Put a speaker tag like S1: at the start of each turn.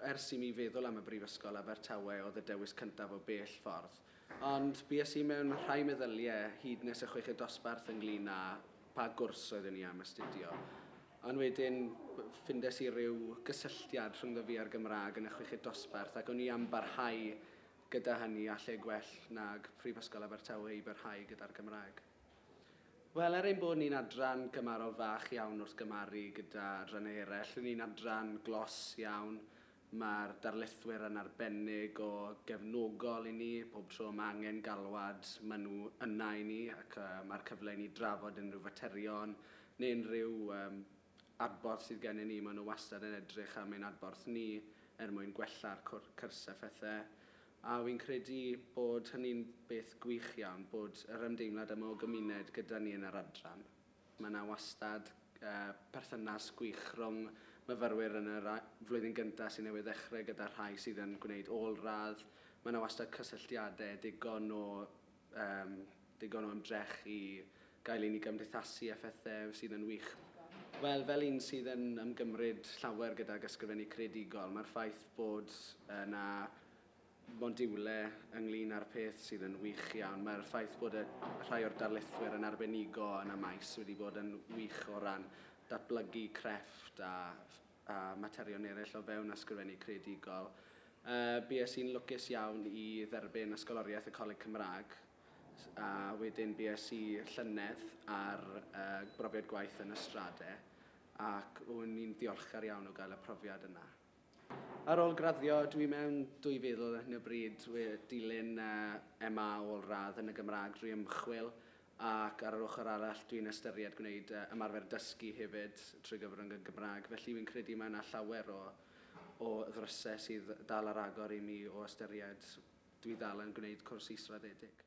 S1: Ers i mi feddwl am y Brifysgol Abertawe oedd y dewis cyntaf o bell ffordd. Ond bues i mewn rhai meddyliau hyd nes y chweched dosbarth ynglŷn â pa gwrs oeddwn i am astudio. Ond wedyn ffindes i ryw gysylltiad rhyngddo fi a'r Gymraeg yn y chweched dosbarth ac o'n i am barhau gyda hynny a lle gwell nag Prifysgol Abertawe i barhau gyda'r Gymraeg. Wel, er ein bod ni'n adran gymharol fach iawn wrth gymharu gyda adrannau eraill, ry'n ni'n adran glos iawn, mae'r darlithwyr yn arbennig o gefnogol i ni, pob tro mae angen galwad, maen nhw yna i ni ac mae'r cyfle i ni drafod unrhyw faterion neu unrhyw um, adborth sydd gennym ni, maen nhw wastad yn edrych am ein adborth ni er mwyn gwella'r cwrs a phethau. A wi'n credu bod hynny'n beth gwych iawn, bod yr ymdeimlad yma o gymuned gyda ni yn yr adran. Mae yna wastad perthynas gwych rhwng myfyrwyr yn yr flwyddyn gyntaf sydd newydd ddechrau gyda'r rhai sydd yn gwneud ôl-radd. Mae yna wastad cysylltiadau digon o Yym, digon o ymdrech i gael i ni gymdeithasu â phethau sydd yn wych. Wel, fel un sydd yn ymgymryd llawer gydag ysgrifennu creadigol, mae'r ffaith bod yna modiwle ynglyn â'r peth sydd yn wych iawn. Mae'r ffaith bod y rhai o'r darlithwyr yn arbenigo yn y maes wedi bod yn wych o ran datblygu crefft a a materion eraill o fewn ysgrifennu creadigol. Y bues i'n lwcus iawn i dderbyn ysgoloriaeth y Coleg Cymraeg a wedyn bues i llynedd ar y brofiad gwaith yn Ystrade ac wn i'n ddiolchgar iawn o gael y profiad yna. Ar ôl graddio, dw i mewn 2000 ar hyn o bryd wedi dilyn MA ôl-radd yn y Gymraeg drwy ymchwil Ac ar yr ochr arall, dwi'n ystyried gwneud ymarfer dysgu hefyd trwy gyfrwng y Gymraeg. Felly, fi'n credu mae yna llawer o o ddrysau sydd dal ar agor i mi o ystyried, dwi ddal yn gwneud cwrs israddedig.